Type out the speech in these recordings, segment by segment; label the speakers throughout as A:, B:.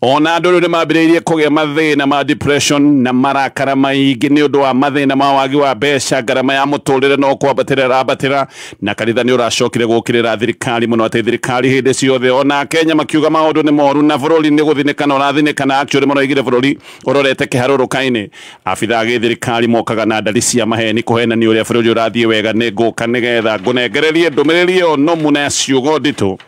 A: Ona andũ rĩu nĩ mambĩrĩirie kũgĩa mathĩna ma depression na marakara maingĩ nĩ ũndũ wa mathĩna ma wagi wa mbeca, ngarama ya mũtũrĩre no kwambatĩra ĩrambatĩra, na kanitha nĩ ũracokire gũkĩrĩra thirikari mũno atĩ thirikari hĩndĩ ciothe. Ona Akenya makiuga maũndũ nĩ moru na bũrũri nĩ gũthinĩkana ũrathinĩkana, actually maraugire bũrũri ũrorete kĩharũrũka-inĩ. Abitha a gĩthirikari mokaga na ndari cia maheni kũhenania ũrĩa bũrũri ũrathiĩ wega. Nĩ ngũka nĩgetha ngũnengererie ndũmĩrĩri ĩyo nũmu na ya ciugo nditũ.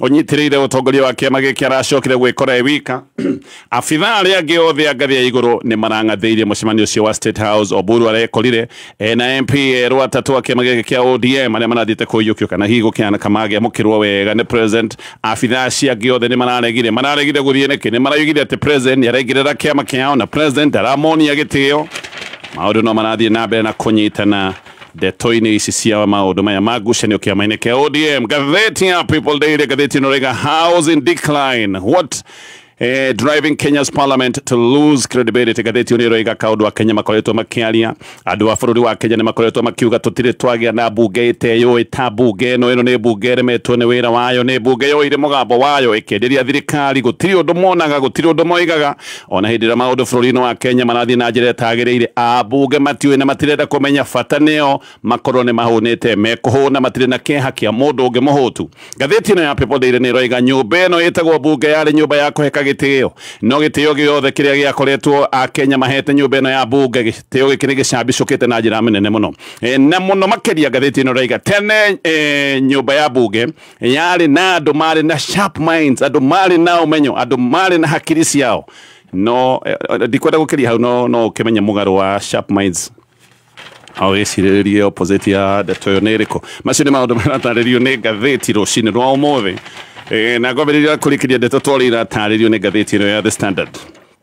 A: ũnyitĩrĩire ũtongoria wa kĩama gĩkĩ aracokire gwĩkora e wika abitha arĩa angĩ othe a ngathĩ ya igũrũ nĩ marang'athĩirie mũcemanio ũcio wa State House Oburu arekorire ena MP erũ atatũ a kĩama gĩkĩ kĩa ODM arĩa marathiĩte kũiyũkio kana hihi gũkĩhana kamagĩamũkĩrwo wega nĩ president abitha acio angĩ othe nĩ mararegire mararegire gũthiĩ nĩkĩ nĩ maraugire atĩ president nĩ araingĩrĩra kĩama kĩao na president aramonia gĩtĩo maũndũ no marathiĩ na mbere na kũnyitana Ndeto-inĩ ici cia maũndũ maya ma ngucanio kĩama-inĩ kĩa ODM, ngathĩti ya People Daily, ngathĩti ĩno rĩga Housing Decline, what Eh, driving Kenya's parliament to lose credibility gatheti ĩno ĩroiga kaũndũ akenya makoretwo makĩaria andũ a bũrũri wa kenya nĩ makoretwo makiuga tũtirĩ twagĩa na mbunge ĩteyũĩ ta mbunge ĩno ĩno nĩ mbunge ĩremetwo nĩ wĩra wayo nĩ mbunge yoire mũgambo wayo ĩkĩenderia thirikari gũtirĩ ũndũ monaga gũtirĩ ũndũ moigaga ona hĩndĩ ĩrĩa maũndũ bũrũri-inĩ wa Kenya marathiĩ na njĩra ĩtagĩrĩire ambunge matiũĩ na matirenda kũmenya bata nĩo makorwo nĩ mahũnĩte mekũhũna matirĩ na kĩeha kĩa mũndũ ũngĩ mũhũtu ngathĩti ĩno ya People Daily nĩ ĩroiga nyũmba ĩno ĩtagwo bunge yarĩ nyũmba ya kũheka gĩtĩo no gĩtĩo gĩothe kĩrĩa gĩakoretwo Akenya mahete nyũmba ĩno ya bunge gĩtĩo gĩkĩ nĩ gĩcambicũkĩte na njĩra nene mũno e, na mũno makĩria ngathĩti ĩno ĩroiga tene e, nyũmba ya bunge yarĩ na andũ marĩ na sharp minds andũ marĩ na ũmenyo andũ marĩ na hakiri ciao no eh, eh, ndikwenda gũkĩria hau no no ũkĩmenye mũgarũ wa sharp minds o gĩcirĩrĩrie opposite ya ndeto ĩyo nĩ ĩrĩkũ macio nĩ maũndũ maratarĩrio nĩ ngathĩti rũcinĩ rwa ũmũthĩ Eh, na ngwambĩrĩria kũrĩkĩria ndeto twarĩ iratarĩrio nĩ ngathĩti ĩno ya the standard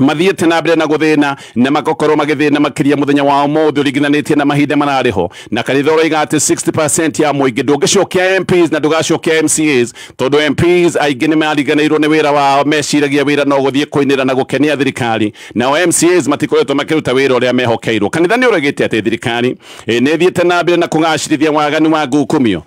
A: mathiĩte na mbere na gũthĩna na magakorwo magĩthĩna makĩria mũthenya wa ũmũthĩ ũringithanĩtie na mahinda mararĩ ho na kanitha ũroiga atĩ 60 ya mũingĩ ndũngĩcokia MPs na ndũgacokia MCAs tondũ MPs aingĩ nĩ mariganĩirwo nĩ wĩra wao meciragia wĩra no gũthiĩ kũinĩra na gũkenia thirikari nao MCAs matikoretwo makĩruta wĩra ũrĩa mehokeirwo kanitha nĩ ũregĩte atĩ thirikari eh, nĩ ĩthiĩte na mbere na kũgacirithia waganu wa ngukumio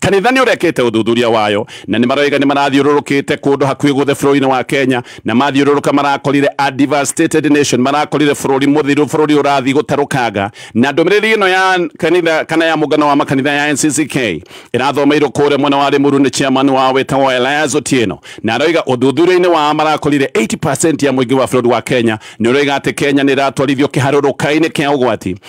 A: Kanitha nĩ ũrekĩte ũthuthuria wayo na nĩ maroiga nĩ marathiũrũrũkĩte kũndũ hakuhĩ guothe bũrũri-inĩ wa Kenya na mathiũrũrũka marakorire a devastated nation, marakorire bũrũri mũthiru, bũrũri ũrathiĩ gũtarũkanga. Na ndũmĩrĩri ĩno ya kanitha kana ya mũngano wa makanitha ya NCCK ĩrathomeirwo kũrĩa mwena wa Limuru nĩ chairman wao wĩtagwo Elias Otieno na aroiga ũthuthuria-inĩ wao marakorire 80% ya mũingĩ wa bũrũri wa Kenya nĩ ũroiga atĩ Kenya nĩ ĩratwarithio kĩharũrũka-inĩ kĩa ũgwati.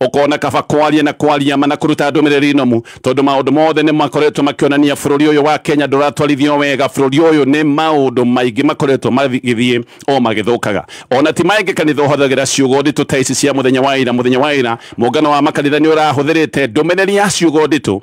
A: ukona kaba kwaria na kwaria mana kuruta ndumiriri nomu tondu maundu mothe ni makoretwo makionania bururi uyu wa Kenya nduratwarithio wega bururi uyu ni maundu maingi makoretwo magithie o magithukaga ona ti maingi kanitha uhothagira ciugo nditu ta ici cia muthenya wa ira muthenya wa ira muungano wa makanitha ni urahuthirite ndumiriri ya ciugo nditu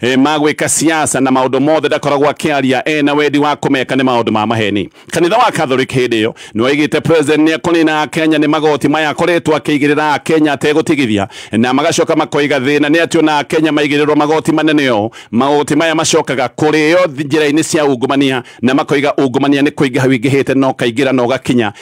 A: e, ma gwĩka siasa na maũndũ mothe ndakoragwo akĩaria e na wendi wa kũmeka nĩ maũndũ ma maheni kanitha wa catholic hĩndĩ ĩyo nĩwaigĩte president nĩekũnina akenya nĩ magoti maya akoretwo akĩigĩrĩra akenya ategũtigithia na magacoka makoiga thĩna nĩ atĩ ona akenya maigĩrĩrwo magoti manene ũũ magoti maya macokaga kũrĩo njĩra-inĩ cia ungumania na makoiga ungumania nĩ kũingĩha wingĩhĩte na ũkaingĩra na ũgakinya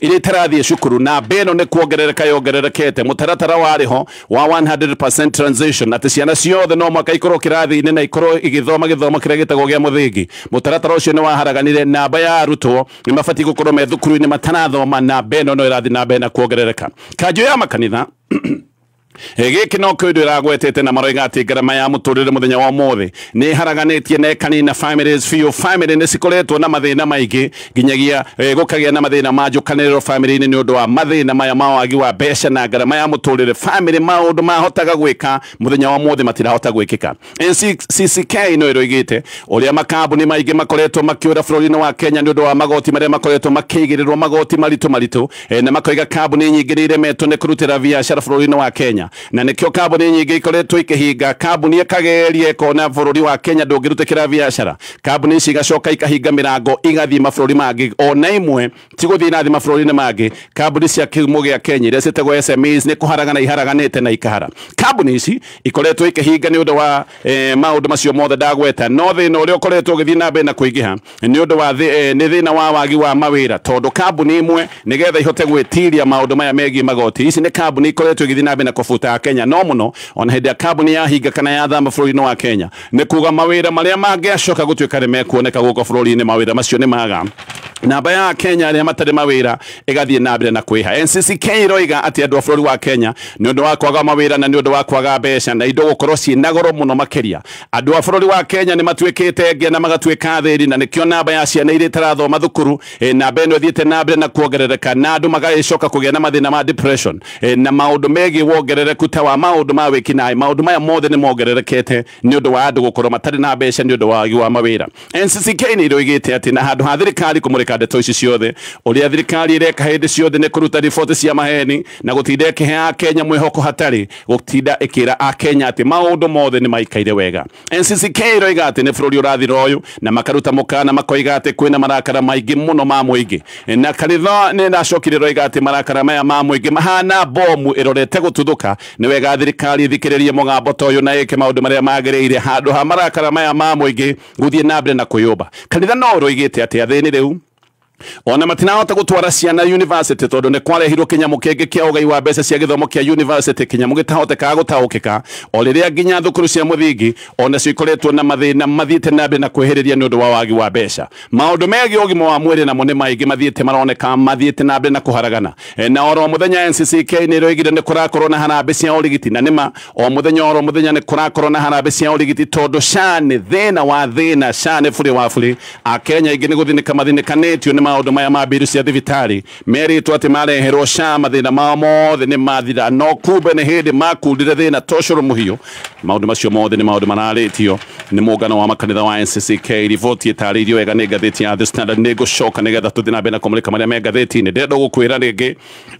A: iria itarathiĩ cukuru na mba ĩno nĩ kuongerereka yongererekete mũtaratara warĩ ho wa 100% transition atĩ ciana ciothe no mwaka ikorwo kĩrathi-inĩ na ikorwo igĩthoma gĩthomo kĩrĩa gĩtagwo gĩa mũthingi mũtaratara ũcio nĩ waharaganire na mba ya arutwo nĩ mabatiĩ gũkorwo me thukuru-inĩ matarathoma na mba ĩno no ĩrathiĩ na mbere na kuongerereka kanjũ ya makanitha gĩkĩ no kĩndũ ĩragwetete na maroiga atĩ ngarama ya mũtũrĩre mũthenya wa ũmũthĩ nĩ haraganĩtie na ĩkanina families biũ family nĩ cikoretwo na mathĩna maingĩ nginyagia eh, gũkagĩa na mathĩna ma njũkanĩrĩro family-inĩ nĩ ũndũ wa mathĩna maya ma wagi wa mbeca na ngarama ya mũtũrĩre family maũndũ mahotaga gwĩka mũthenya wa ũmũthĩ matirahota gwĩkĩka CCK no ĩroigĩte ũrĩa makambuni maingĩ makoretwo makĩũra bũrũri-inĩ wa Kenya nĩ ũndũ wa magoti marĩa makoretwo makĩigĩrĩrwo magoti maritũ maritũ e, na makoiga kambuni nyingĩ nĩ iremetwo nĩ kũrutĩra biacara bũrũri-inĩ wa Kenya na nĩkĩo kambuni nyingĩ ikoretwo ikĩhinga kambuni ĩkageria ĩkona bũrũri wa Kenya ndũngĩrutĩkĩra biacara kambuni ici igacoka ikahinga mĩrango igathiĩ mabũrũri mangĩ ona imwe ti gũthiĩ na thĩ mabũrũri-inĩ mangĩ kambuni cia kĩhumo gĩa Kenya iria ciĩtagwo SMEs nĩ kũharagana iharaganĩte na ikahara kambuni ici ikoretwo ikĩhinga nĩ ũndũ wa eh, maũndũ macio mothe ndagweta no thĩna ũrĩa ũkoretwo ũgĩthiĩ na mbere na kũingĩha nĩ ũndũ wa thĩ, eh, nĩ thĩna wa wagi wa mawĩra tondũ kambuni imwe nĩgetha ihote gwĩtiria maũndũ maya megiĩ magoti ici nĩ kambuni ikoretwo igĩthiĩ na mbere na kũbuta Kenya no mũno ona hĩndĩ ya kambuni yahinga kana yathama bũrũri-inĩ wa Kenya nĩ kuga mawĩra marĩa mangĩacoka gũtuĩka nĩ mekuoneka gũkũ bũrũri-inĩ mawĩra macio nĩ maga namba ya Kenya arĩa matarĩ mawĩra ĩgathiĩ na mbere na kwĩha. NCCK iroiga atĩ andũ a bũrũri wa Kenya nĩ ũndũ wa kwaga mawĩra na nĩ ũndũ wa kwaga mbeca na indo gũkorwo ciĩ na goro mũno makĩria, andũ a bũrũri wa Kenya nĩ matuĩkĩte ngĩa na magatuĩka athĩni, na nĩkĩo namba ya ciana iria itarathoma thukuru, e, namba ĩno ĩthiĩte na mbere na kuongerereka na andũ magagĩcoka kũgĩa na mathĩna ma depression, e, na maũndũ megiĩ wongerereku ta wa maũndũ ma wĩkinaĩ. Maũndũ maya mothe nĩ mongererekete nĩ ũndũ wa andũ gũkorwo matarĩ na mbeca nĩ ũndũ wa wagi wa mawĩra. NCCK nĩ ĩroigĩte atĩ na handũ ha thirikari kũmũrĩka ndeto ici ciothe, ũrĩa thirikari ĩreka hĩndĩ ciothe nĩ kũruta riboti cia maheni na gũtinda ĩkĩheaga Akenya mwĩhoko hatarĩ gũtinda ĩkĩra Akenya atĩ maũndũ mothe nĩ maikaire wega. NCCK ĩroiga atĩ nĩ bũrũri ũrathira ũyũ na makaruta mũkaana makoiga atĩ kwĩna marakara maingĩ mũno ma mũingĩ. Na kanitha nĩ ĩracokire ĩroiga atĩ marakara maya ma mũingĩ mahana mbomu ĩrorete gũtuthũka Nĩ wega thirikari ĩthikĩrĩrie mũgambo ta ũyũ na ĩke maũndũ marĩa magĩrĩire handũ ha marakara maya ma mũingĩ gũthiĩ na mbere na kwĩyũmba. Kanitha no ũrũigĩte atĩa thĩinĩ rĩu? Ona matinahota gũtwara ciana yunivasĩtĩ tondũ nĩ kwarehirwo kĩnyamũ kĩngĩ kĩa ũgai wa mbeca cia gĩthomo kĩa yunivasĩtĩ, kĩnyamũ gĩtahotekaga gũtaũkĩka, o rĩrĩa nginya thukuru cia mũthingi o nacio ikoretwo na mathĩna mathiĩte na mbere na kwĩhĩrĩria nĩ ũndũ wa wagi wa mbeca. Maũndũ megiĩ ũgima wa mwĩrĩ namo nĩ maingĩ mathiĩte maroneka mathiĩte na mbere na kũharagana. E, na oro mũthenya NCCK nĩ ĩroigire nĩ kũrakorwo na harambĩ cia ũrigiti, na nĩma o mũthenya oro mũthenya nĩ kũrakorwo na harambĩ cia ũrigiti, tondũ SHA nĩ thĩna wa thĩna, SHA nĩ burĩ wa burĩ. Akenya aingĩ nĩ gũthinĩka mathinĩkanĩtio nĩ maũndũ maya ma mbiru cia thibitarĩ, Merĩtwo atĩ mareherwo SHA mathĩna mao mothe nĩ mathira, no kumbe nĩ hĩndĩ makundire thĩna ta ũcũrũ mũhiũ. Maũndũ macio mothe nĩ maũndũ mararĩtio nĩ mũngano wa makanitha wa NCCK. Riboti ĩtarĩirio wega nĩ ngathĩti ya The Standard. Nĩ ngũcoka nĩgetha tũthiĩ na mbere na kũmũrĩka marĩa me ngathĩti-inĩ. Ndĩrenda gũkwĩra rĩngĩ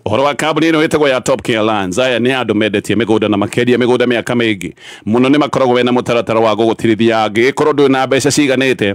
A: ũhoro wa kambuni ĩno ĩtagwo ya Top Care Lands. Aya nĩ andũ mendetie mĩgũnda na makendia mĩgũnda mĩaka mĩingĩ mũno. Nĩ makoragwo mena mũtaratara wa gũgũtirithia angĩgĩkorwo ndũrĩ na mbeca ciiganĩte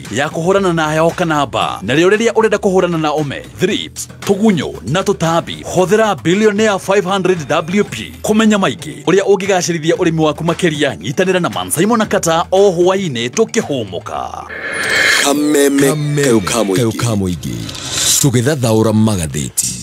B: ya kũhũrana na heho kana mbaa na rĩo rĩrĩa ũrenda kũhũrana na ome thrips tũgunyũ na tũtambi hũthĩra billionaire 500 wp kũmenya maingĩ ũrĩa ũngĩgacĩrithia ũrĩmi waku makĩria nyitanĩra na mansaimo na kata o hwaĩ-inĩ tũkĩhũmũka
C: kameme kau ka mũingĩ tũgĩthathaũra magathĩti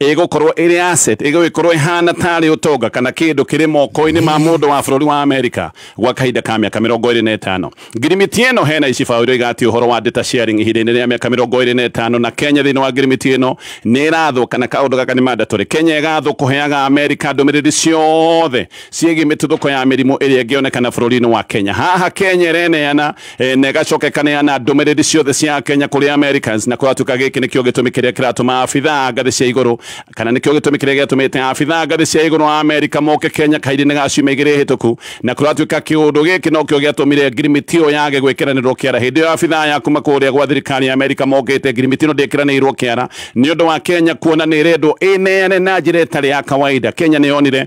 A: ĩgũkorwo ĩrĩ asset ĩgũgĩkorwo ĩhana tarĩ ũtonga kana kĩndũ kĩrĩ moko-inĩ ma mũndũ wa bũrũri wa Amerika gwa kahinda ka mĩaka mĩrongo ĩrĩ na ĩtano ngirimiti ĩno hena icibaũ iria igati ũhoro wa data sharing ihinda-inĩ rĩa mĩaka mĩrongo ĩrĩ na ĩtano na Kenya thĩinĩ wa ngirimiti ĩno nĩ ĩrathwo kana kaũndũ gaka nĩ mandatory Kenya ĩgathwo kũheaga Amerika ndũmĩrĩri ciothe ciĩgiĩ mĩtuthũko ya mĩrimũ ĩrĩa ĩngĩonekana bũrũri-inĩ wa Kenya. Haha Kenya ĩreneana eh, na ĩgacoka ĩkaneana ndũmĩrĩri ciothe cia Kenya kũrĩ Americans na kũratuĩka gĩkĩ nĩkĩo gĩtũmi kĩrĩa kĩratũma abithaa ngathĩ cia igũrũ kana nĩkĩo gĩtũmi kĩrĩa gĩatũmĩte abithaa ngathĩ cia igũrũ a Amerika moke Kenya kahinda-inĩ ga ciumia igĩrĩ hĩtũku na kũratuĩka kĩũndũ gĩkĩ nokĩo gĩatũmire ngirimiti ĩyo yage gwĩkĩranĩrwo kĩara hĩndĩ ĩyo abithaa ya kuma kũrĩa gwa thirikari ya Amerika mokĩte ngirimiti ĩno ndĩkĩranĩirwo kĩara nĩ ũndũ wa Kenya kuona nĩ ĩrendwo ĩneane na njĩra ĩtarĩ ya kawaida Kenya nĩ yonire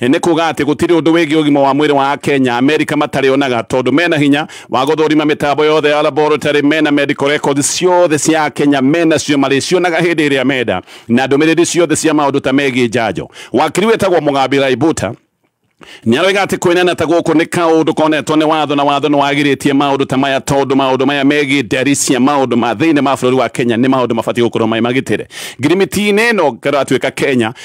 A: Nĩ kuga atĩ gũtirĩ ũndũ wĩgiĩ ũgima wa mwĩrĩ wa Akenya Amerika matarĩ onaga tondũ mena hinya wa gũthũrima mĩtambo yothe ya laboratory, mena medical records ciothe cia Akenya menacio marĩcionaga hĩndĩ ĩrĩa menda na ndũmĩrĩri ciothe cia maũndũ ta megiĩ njanjo. Wakiri wĩtagwo Mugambi Raibuta nĩ aroiga atĩ kwĩnena ta gũkũ nĩ kaũndũ konetwo nĩ watho na watho nĩ wagirĩtie maũndũ ta maya tondũ maũndũ maya megiĩ ndari cia maũndũ ma thĩinĩ ma bũrũri wa Kenya nĩ maũndũ mabatiĩ gũkorwo marĩ magitĩre. Ngirimiti-inĩ ĩno ĩratuĩka Kenya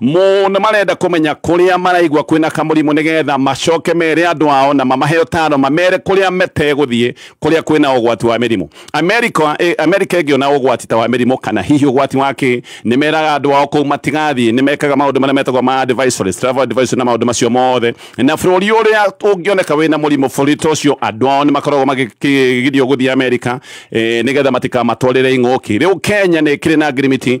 A: Mo nĩ marenda kũmenya kũrĩa maraigua kwĩna kamũrimũ nĩgetha macoke mere andũ ao na mamahe ũtaaro mamere kũrĩa metegũthiĩ kũrĩa kwĩna ũgwati wa mĩrimũ. Amerika eh, Amerika ĩngĩona ũgwati ta wa mĩrimũ kana hihi ũgwati wa kĩ nĩ meraga andũ ao kũu matigathiĩ nĩ mekaga maũndũ marĩa metagwo ma advisories, travel advisories na maũndũ macio mothe na bũrũri ũrĩa ũngĩoneka wĩna mũrimũ bũrũri ta ũcio andũ ao nĩ makoragwo magĩgirio gũthiĩ Amerika eh, nĩgetha matikamatwarĩre ing'ũki. Rĩu Kenya nĩ ĩkĩrĩ na ngirimiti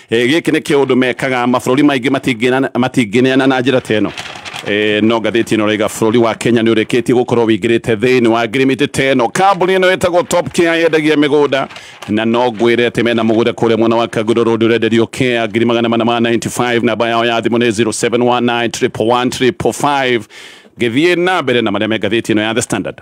A: Eh, gĩkĩ nĩ kĩũndũ mekaga mabũrũri maingĩ matingĩna- matingĩneana na njĩra ta ĩno Eh, no ngathĩti ĩno raiga bũrũri wa kenya nĩ ũrĩkĩtie gũkorwo wĩingĩrĩte thĩinĩ wa ngirimiti ta ĩno kambuni ĩno ĩtagwo top care yendagia mĩgũnda na no ngwĩre atĩ mena mũgũnda kũrĩa mwena wa kagũrũ road ũrenderio kea ngiri magana mana ma 95 namba yao ya thimũ nĩ 0719 111 ngĩthiĩ na mbere na marĩa me ngathĩti ĩno ya the standard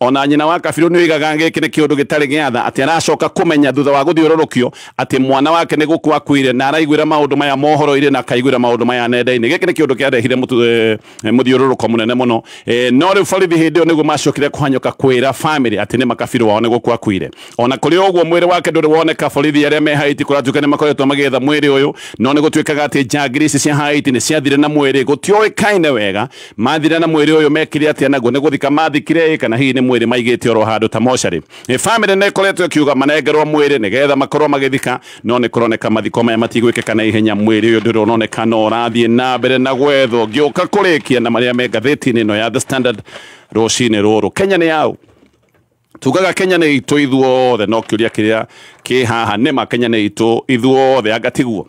A: O na nyina wa Kabirũ nĩ oigaga gĩkĩ nĩ kĩũndũ gĩtarĩ gĩa tha atĩ aracoka kũmenya thutha wa gũthiũrũrũkio atĩ mwana wake nĩ gũkua akuire na araiguĩra maũndũ maya mohoro-inĩ na akaiguĩra maũndũ maya nenda-inĩ. Gĩkĩ nĩ kĩũndũ kĩarehire mũthiũrũrũko mũnene mũno. No rĩu borithi hĩndĩ ĩyo nĩguo maacokire kũhanyũka kwĩra famĩlĩ atĩ nĩ ma Kabirũ wao nĩ gũkua akuire. O na kũrĩ ũguo, mwĩrĩ wake ndũrĩ woneka. Borithi arĩa me Haiti kũratuĩka nĩ makoretwo magĩetha mwĩrĩ ũyũ, no nĩ gũtuĩkaga atĩ njangiri ici cia Haiti nĩ ciathire na mwĩrĩ gũtioĩkaine wega. Mathira na mwĩrĩ ũyũ mekire atĩa naguo? Nĩ gũthika maathikire ĩ, kana hihi nĩ mwĩrĩ maigĩte oro handũ ta mocarĩ? Ĩ, famĩlĩ nĩ ĩkoretwo ĩkiuga manengerwo mwĩrĩ nĩgetha makorwo magĩthika, no nĩ kũroneka mathiko maya matigwĩkĩka na ihenya. Mwĩrĩ ũyũ ndũrĩ ũroneka no ũrathiĩ na mbere na gwethwo. Ngĩũka kũrĩkia na marĩa me ngathĩti-inĩ ĩno ya The Standard rũcinĩ rũrũ, Kenya nĩ yaũ? Tugaga Kenya nĩ itũ ithuothe, no kĩũria kĩrĩa kĩ haha, nĩma Kenya nĩ itũ ithuothe? Anga tiguo?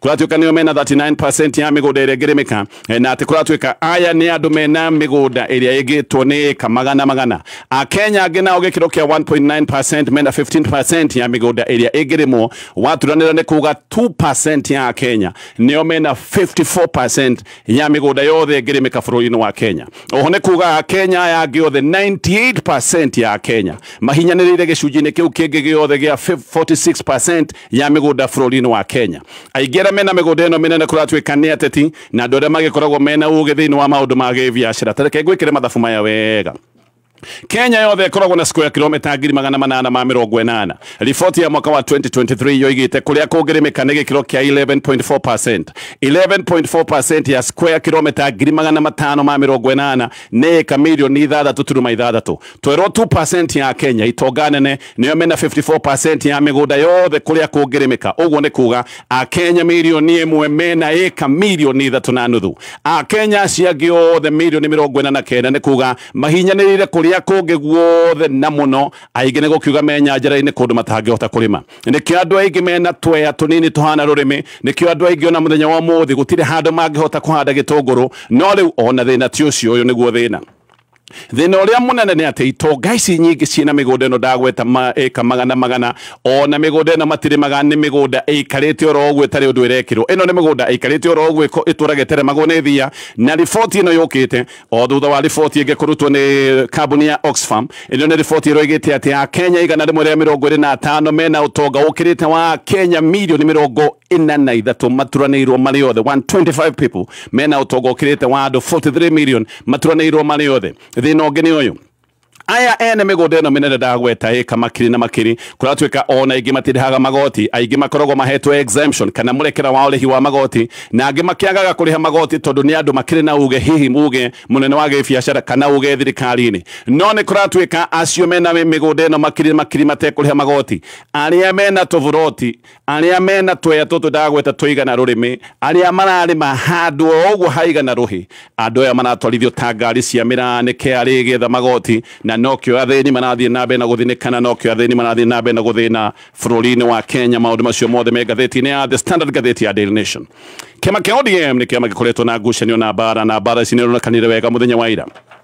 A: kũratuĩka nĩo mena 39% ya mĩgũnda ĩrĩa ĩngĩrĩmĩka eh, na atĩ kũratuĩka aya nĩ andũ mena mĩgũnda ĩrĩa ĩngĩtwo nĩ ĩka magana magana akenya angĩ nao gĩkĩro kĩa 1.9% mena 15% ya mĩgũnda ĩrĩa ĩngĩrĩmwo waturanĩra nĩ kuga 2% ya akenya nĩo mena 54% hinya ya mĩgũnda yothe ĩngĩrĩmĩka bũrũri-inĩ wa kenya oho nĩ kuga akenya aya angĩ othe 98 ya akenya mahinyanĩrĩire gĩcunjĩ-inĩ kĩu kĩngĩ gĩothe gĩa 46 ya mĩgũnda bũrũri-inĩ wa kenya aingĩ arĩa mena mĩgũnda ĩno mĩnene kũratuĩka nĩ ateti na andũ arĩa magĩkoragwo mena ũgĩ thĩinĩ wa maũndũ ma gĩbiacara tareke ngwĩkĩre mathabu maya wega Kenya yothe ĩkoragwo na square kilomita ngiri magana manana ma mĩrongo ĩnana. Riboti ya mwaka wa 2023 yoigĩte kũrĩa kũngĩrĩmĩka nĩ gĩkĩro kĩa 11.4%. 11.4% ya square kilomita ngiri magana matano ma mĩrongo ĩnana nĩ ĩka mirioni ithathatũ turuma ithathatũ. Twerwo 2% ya Kenya itonga nene nĩo mena 54% ya mĩgũnda yothe kũrĩa kũngĩrĩmĩka. Ũguo nĩ kuga Akenya mirioni ĩmwe mena ĩka mirioni ithatũ na nuthu. Akenya acio angĩ othe mirioni mĩrongo ĩna na kenda nĩ kuga mahinyanĩrĩire kũrĩa kũngĩ guothe na mũno aingĩ nĩ gũkiuga me nyanjara-inĩ kũndũ matangĩhota kũrĩma nĩkĩo andũ aingĩ mena tweya tũnini tũhana rũrĩmĩ nĩkĩo andũ aingĩ ona mũthenya wa ũmũthĩ gũtirĩ handũ mangĩhota kũhanda gĩtũngũrũ no rĩu ona thĩna ti ũcio ũyũ nĩguo thĩna thina uria munene ni ati itonga ici nyingi ciina migunda ino ndagweta ma ika magana magana ona migunda ino matirimaga ni migunda ikarite oro uguo itari undu irekirwo ino ni migunda ikarite oro uguo itura giteremagwo ni thia na riboti ino yukite O thutha wa riboti ĩngĩ kũrutwo nĩ kambuni ya Oxfam, ĩno nĩ riboti ĩroigĩte atĩ a Kenya igana rĩmwe rĩa mĩrongo ĩrĩ na atano mena ũtonga ũkĩrĩte wa Kenya mirioni mĩrongo ĩna na ithatũ maturanĩirwo marĩ othe 125 people mena ũtonga ũkĩrĩte wa andũ 43 million maturanĩirwo marĩ othe. Thĩna ũngĩ nĩ ũyũ, aya ene mĩgũnda ĩno mĩnene ndagweta ĩka makiri na makiri kũratuĩka ona aingĩ matirĩhaga magoti aingĩ makoragwo mahetwo exemption kana mũrekera wa ũrĩhi wa magoti na angĩ makĩagaga kũrĩha magoti tondũ nĩ andũ makĩrĩ na uge hihi uge mũnene wa gĩbiacara kana uge thirikari-inĩ no nĩ kũratuĩka acio mena mĩgũnda ĩno makiri na makiri matekũrĩha magoti arĩa mena tũburoti arĩa mena tweya tũtũ ndagweta tũigana rũrĩmĩ arĩa mararĩma handũ o ũguo haigana rũhĩ andũ aya maratwarithio ta ngari cia mĩraa nĩ KRA ĩgĩetha magoti na nokĩo athĩni marathiĩ na mbere na gũthinĩka na nokĩo athĩni marathiĩ na mbere na gũthĩna bũrũri-inĩ wa Kenya maũndũ macio mothe me ngathĩti-inĩ ya The Standard ngathĩti ya Daily Nation kĩama kĩa ODM nĩ kĩama gĩkoretwo na ngucanio na mbara na mbara ici nĩ ironekanire wega mũthenya wa ira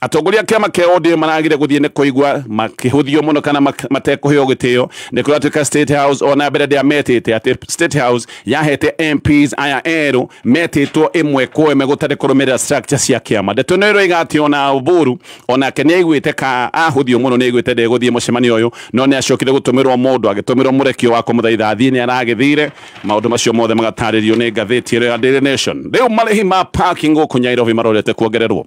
A: atongoria a kiama kia ODM maragire guthie ni kuigwa makihuthio muno kana matekuheo gitio ni kuria tuika state house ona mbere ndia metite ati state house yahete MPs aya eru metitwo imwe kwa imwe gutari kurumirira structure cia kiama ndeto no iroiga ati ona Oburu onake ni aiguite ka ahuthio muno ni aiguite ndi guthie mucemanio uyu no ni acokire gutumirwo mundu agitumirwo murekio wa kumuthaitha athie ni aragithire maundu macio mothe magataririo ni ngatheti ya Daily Nation riu marihi ma parking guku Nyairobi marorete kuongererwo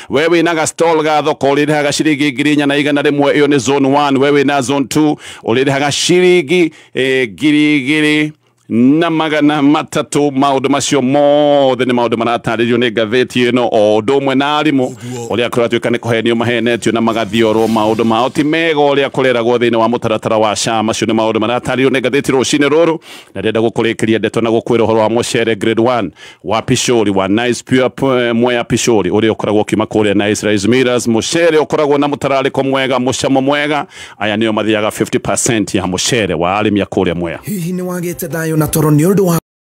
A: we wĩna ga stall ga thoko ũrĩrĩhaga ciringi ngiri inya na igana rĩmwe ĩyo nĩ zone 1 we wĩna zone 2 ũrĩrĩhaga ciringi eh, ngiri igĩrĩ na magana matatũ maũndũ macio mothe nĩ maũndũ maratarĩrio nĩ ngathĩti ĩno o ũndũ ũmwe na arimũ ũrĩa kũratuĩka nĩ kũhenio mahenetio na magathiorwo maũndũ mao ti mega ũrĩa kũreragwo thĩinĩ wa mũtaratara wa SHA macio nĩ maũndũ maratarĩrio nĩ ngathĩti rũcinĩ rũrũ na ndĩrenda gũkũrĩkĩria ndeto na gũkwĩra ũhoro wa mũcere grade 1 wa Pishori wa Nice Pure P- Mwea Pishori ũrĩa ũkoragwo ũkiuma kũrĩa Nice Rice Millers mũcere ũkoragwo na mũtararĩko mwega mũcamo mwega aya nĩo mathiaga 50%
D: ya mũcere
A: wa
D: arĩmi
A: a kũrĩa
D: Mwea
A: Hihi
D: nĩ wagĩte
A: thayũ
D: na
A: toro
D: nĩ ũndũ
A: wa